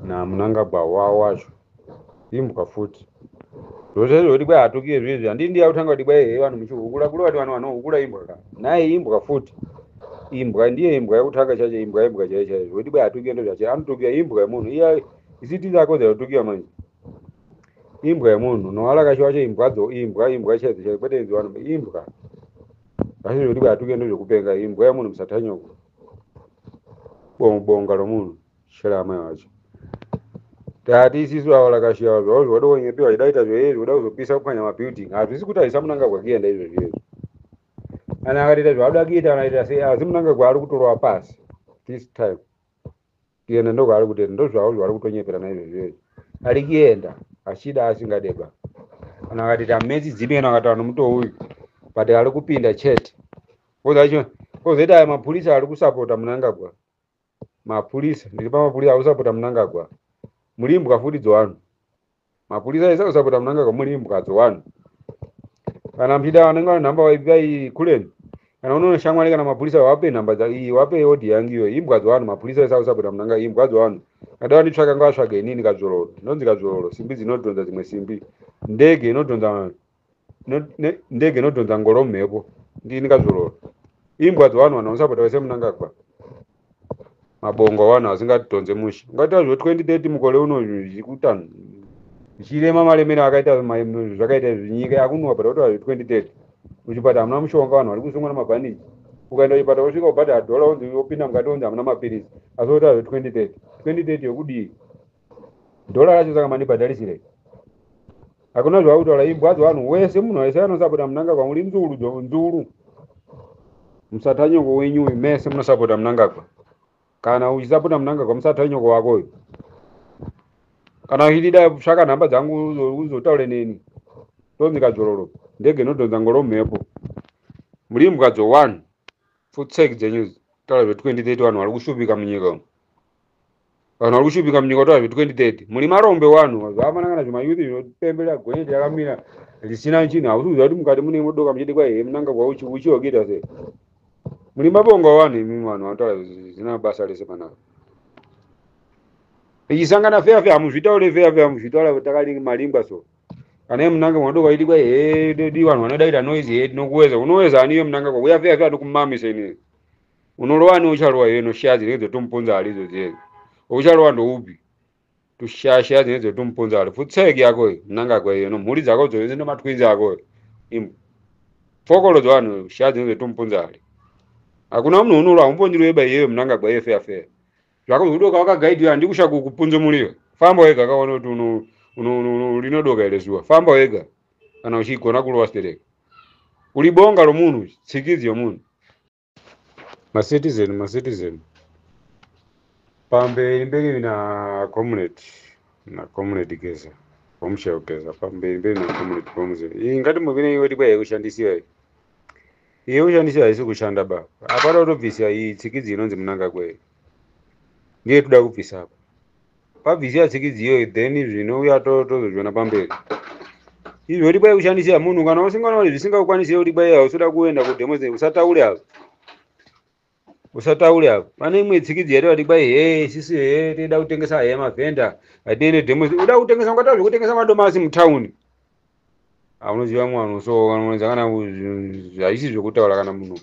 namunangagwa wavo wacho imbwa futi zvozvezvo kuti kwai hatukie zviizvi handii ndiya kutanga kuti kwai hei vanhu muchihukula kule vati vanhu vanohukula imbwa ka naye imbwa futi imbwa ndiye imbwa yekutanga chacho imbwa imbwa chaiyo chaiyo zvekuti kwai hatukie ndo zvacho anotukia imbwa yemunhu iya isiti dzakodzera kutukiwa manje imbwa yemunhu nowala kacho wacho imbwadzo imbwa imbwa chaidzo chaidzo kwete idzo vanhu imbwa asi zvekuti kwai hatukie ndo zvekupenga imbwa yemunhu musatanyoko bonga romunhu shela amai wacho tati isisu ava lakashiyawa zvavo zvoda kunyepiwa chidaita zvoyezvi kuda kuzopisa kupwanya mabuilding hazvisi kuti haisa munangagwa kuenda izvozvi izvo kana akaita zvaakuda kuita anaita sei asi munangagwa ari kutorova pasi this time kuenda ndokwaari kutoenda ndozvavo zvavari kutonyepera naizvozvo izvi ari kuenda achida asingadeba kana akati tametsi dzipi kana akataura nomuto uyu but ari kupinda chete kozacho kozoita aya mapurisa ari kusapota munangagwa mapurisa ndiri pamapurisa ari kusapota munangagwa murimbwa futi dzowanu mapurisa ese anosapota mnangagwa muri imbwa dzewanhu kana mchida vanenge vane nhamba vaipiai kuleni kana unoona shamwari kana mapurisa wape nhamba dza- iyi wape odi yangu iyo imbwa dzewanhu mapurisa ese akusapota mnanga imbwa dzewanhu kada vanditsvaka ngavatsvage inini kadzvororo ndonzi kadzvororo simbi dzinodhonza dzimwe simbi ndege inodhonza vanhu ndege inodhonza ngoro mhepo ndini kazvororo imbwa dzevanhu vanhu vanosapota vese munangagwa mabongo avanhu asingadhonze mushe ungaita zvo 2030 mukore uno zvikutano zvichirema malemero akaita zvakaita zvinyika yakunwa but otoa zve 2030 muchipata hamuna mushonga vanhu vari kusungwa nemabhaniji ukaenda kuchipata wosvika ubhadhara dhola onzi wopinda mukati onzi hamuna mapiritsi asi otoa zve 2030 2030 yokudii dhola racho saka mandibhadharisirei hakuna zvakutaura imbwa dzevanhu wese munhu wese anosapota munangagwa muri nzuru jo nzuru musatanyoko wenyu uyu mese munosapota munangagwa kana uchisapota munangagwa musatanyoko wako uyu kana uchitida tsvaka nhamba dzangu uzo- uzotaure neni tonzi kadzvororo ndege inodhonza ngoro mhepo muri imbwa dzo one futsek dzenyu taura zve 2030 vanhu vari kushupika munyika umu vanhu vari kushupika munyika kutaura zve 2030 mune marombe wanhu zvamanangana zvemayuthi zvinopembera gonyeti yakamira risina chinhu hausi kuziva kuti mukati mune modoka muchiti kwai he munanga kwauchiwakuita sei muri mabonga vanhu imi vanhu vanotaura zvisina basa rese panapa ichisangana feya feya hamuzvitaure feya feya muzvitaura takadii maringwa so kana iye munanga mwadoka iti kwai he dodi vanhu vanodaita noise he tinokuweza unoweza ani iye munanga kwa uya feya feya ndokumamisa inini unorova neucharova iwe noshaya dzinenge dzotomuponza hali idzo dzega ucharova ndoupi tushasha dzinenge dzotomuponza hali futseki yako iyo mnangagwa iyo nomhuri dzako dzose nomatwinzi ako iyo imbwa pfokolo dzevanhu shaya dzinenge dzotomuponza hali hakuna munhu unorova umbondiro yeba iyeyo mnangagwa iyo feya feya zvako zvokudoka wakagaidira handi kusha kukupunza muriyo famba wega kaona kuti uno rinodoka here zuva famba wega kana uchigona kurova stereka uri bonga romunhu tsikidzo yomunhu macitizen macitizen pamberi mberi na comrade na comrade geza pamushaya kugeza pamberi mberi na comrade pamuze iyi ngati muvine iwe dikwa yekushandisiwa iyi iye ushandisiwa haisi kushanda ba apana kutobvisa iyi tsikidzi inonzi munangagwa iyi ndiye toda kubvisa apa pabvisi yasikidzi iyoyo then zvino uya tozozviona pamberi izvo kuti kwai kushandisira munhu kana usingana kuti zvisingakukwanisire kuti kwai hausoda kuenda kudemo sei usataure apo usataure apo pane imwe tsikidzi yati vati kwai hee sisi hee tinoda kutengesa hee mavhenda hatiende demo sei uda kutengesa ungata zvekutengesa madomasi mutawuni aunoziva mwana so anoonza kana haisi zvekutaura kana munhu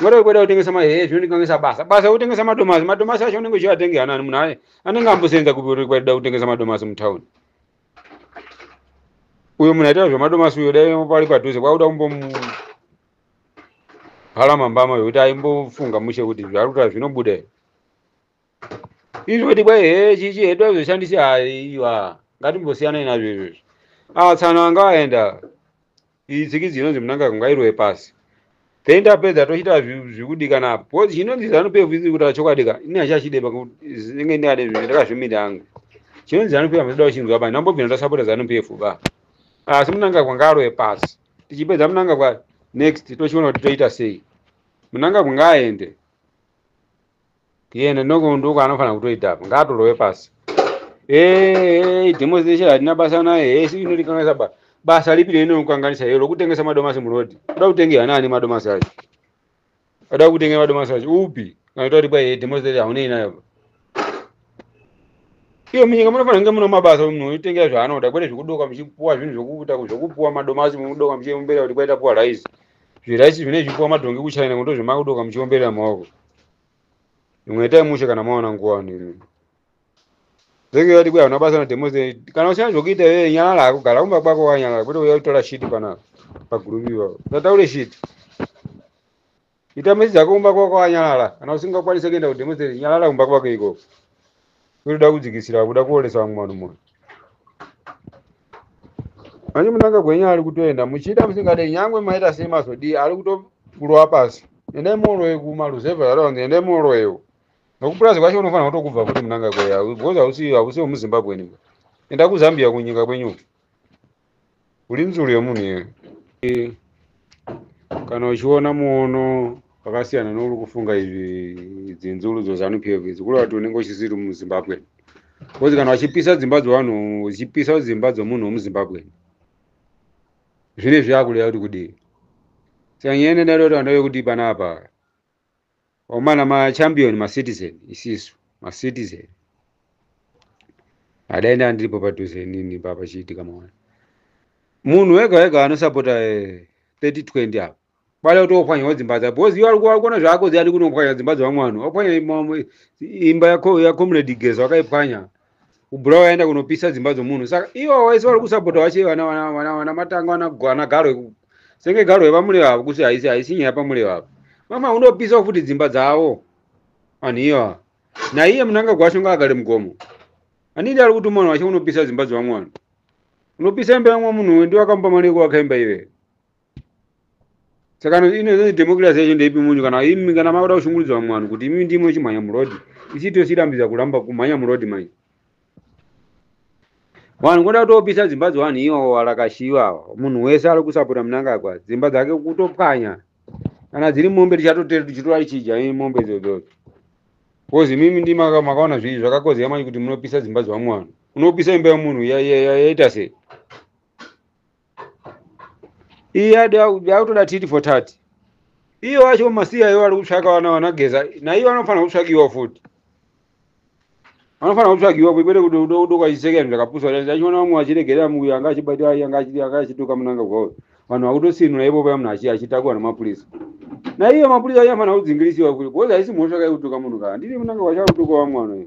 ngoda wekuda kutengesa mahehe zvinondikangisa basa basa yekutengesa madomasi madomasi acho unenge uchivatenge hanani munhu aye anenge ambosenza kuda kutengesa madomasi mutown uyo munhu aitaura zvemadomasi uyo dai pari padhuze kwakuda kumbomhala mambama yokuti aimbofunga mushe kuti zvaari kutaura zvinobuda here izvi kuti kwai he chichi hedu azoshandisi haiwa ngatimbosiyanai nazvo izvozvo ah tsano anga aenda iyi tsikidzi inonzi munanga kungairwe pasi then tapedza tochiita zvi- zvikudikana apo because chinonzi zanu pevu iri kutaura chokwadi ka ini hachachide inenge ndingade zvinhu ndakazvimira hangu chinonzi zanu pevu hamachida kuchinzwa pa ndambobvina ndasapota zanu pevu ba asi munanga kwanga arwe pasi tichipedza munanga kwa next tochiona kuti toita sei munanga kunga aende tiende ndokunduka anofanira kutoita apa ngaatorowe pasi Hey, demonstration hatina basa naye hey, si inotikanganisa ba basa lipi rinokukanganisa hero lokutengesa madomasi murodi uda kutenge hana ani madomasi acho uda kutenge madomasi acho upi kana kuti kwai hey, demonstration haunei nayo ba iyo munyika munofanira kunge mune mabasa munhu otengera zvaanoda kwete zvekudoka muchipuwa zvinhu zvokuita zvokupuwa madomasi mukudoka muchiombera kuti kwaita puwa rice zviraisi zvine zvipuwa madhongi kuchina nekuti ndozvemakudoka muchiomberera maoko imwe itai mushe kana maona nguva nimi zenge yati kuya una basa na demo ze kana usina zvokuita iwe nyalala hako gara kumba kwako wanyalala kwete uya kutora shit pana paguruvi iwawo usataure shit ita mesi dzako kumba kwako wanyalala kana usingakwanise kuenda kudemo ze nyalala kumba kwako ikoko kuda kudzikisira kuda kuolesa vamwe vanhu moyo manje munanga gwenyu ari kutoenda muchida musingade nyangwe maita sei mazodii ari kutokurova pasi endai muoroye kumaruzevha yaraunzi endai muoroyewo nokupurazi kwacho unofanira kutokubva futi munanga gweya because hausi hausi wemuzimbabweni enda kuzambia kunyika kwenyu uri nzvuru yemunhu iwe Eh, kana uchiona muono wakasiyana nouri kufunga izvi idzi nzvuru dzozanu pf idzi kureva kuti unenge uchisiri muzimbabwe kozi kana vachipisa dzimba dzevanhu uchipisa dzimba dzemunhu wemuzimbabwe zvine zvakuda kuti kudii saka nyaya yenendarotaura ndeyekuti panapa omana machampion macitizen isisu macitizen adai ndaa ndiripo padhuze inini papa chiitika maona munhu wega wega anosapota 3020 apo bada kuti ophwanyawo dzimba dza because iwe alikuona zvako ziyani kunophwanya dzimba dzevamwe vanhu waphwanya imba yako yacomrade gezo akaiphwanya kubhurawo yaenda kunopisa dzimba dzomunhu saka ivo vaisi vari kusapota vache vana vana vana vana matanga vana vana garwe ku- senge garwe vamule vavo kuti haisi haisi nyaya pamule vavo mama unopisawo futi dzimba dzavo vanhu iva naiye munanga gwasho ngaagare mugomo anidi ari kuti mwana wacho unopisa dzimba dzevamwe vanhu unopisa imba yamwe munhu ndiwe akamupa mari yekuvaka imba ive saka inozi democracy yacho ndeipi munyu kana imi kana makuda kushungurudza vamwe vanhu kuti imi ndimwe chimhanya murodi isi tosirambidza kuramba kumhanya murodi manje vanhu kuda kutopisa dzimba dzevanhu iwo warakashiva munhu wese ari kusapota munangagwa dzimba dzake kutopwanya kana dziri mombe tichatotera tichitora tichidya mombe dzodzodzo kozi imimi ndi makaona zvii zvakakodzera manje kuti munopisa dzimba dzevamwe vanhu unopisa imba yemunhu yaita sei iye ade aku- akutoda titi for tati iye wacho masiya iwo ari kutsvaka vana vanageza naiwo anofanira kutsvakiwa futi anofanira kutsvakiwa kwete kuti udo- udo kwachiseka zvinhu zvakapusa kuti achiona vamwe vachiregerera muya anga achibata aya anga achi- anga achituka munanga kwawo vanhu vakutosinura ivo paya munhu achi- achitakwa nemapurisa naiye mapurisa acho anofanira kudzingirisiwa futi because haisi mhosva kai kutuka munhu kaa ndiri munanga kwacho akutuka vamwe vanoyo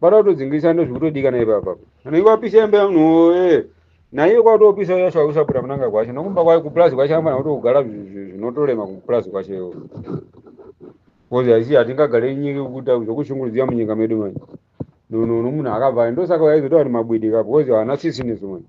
Pada kutodzingisa ndo zvikutodikana ipapa. Kana iwa pisa yambe no eh. Na iye kwa topisa yasha usapura munanga kwacho. Nokumba kwa ku plus kwacho amana kuti kugara zvinotolema ku plus kwacho yo. Kozi aisi hatingagare nyika kukuta zvokushungurudzia munyika medu manje. No no no munhu akabva ndosaka waizotaura kuti mabwidi kapo kozi haana sisi nesu manje.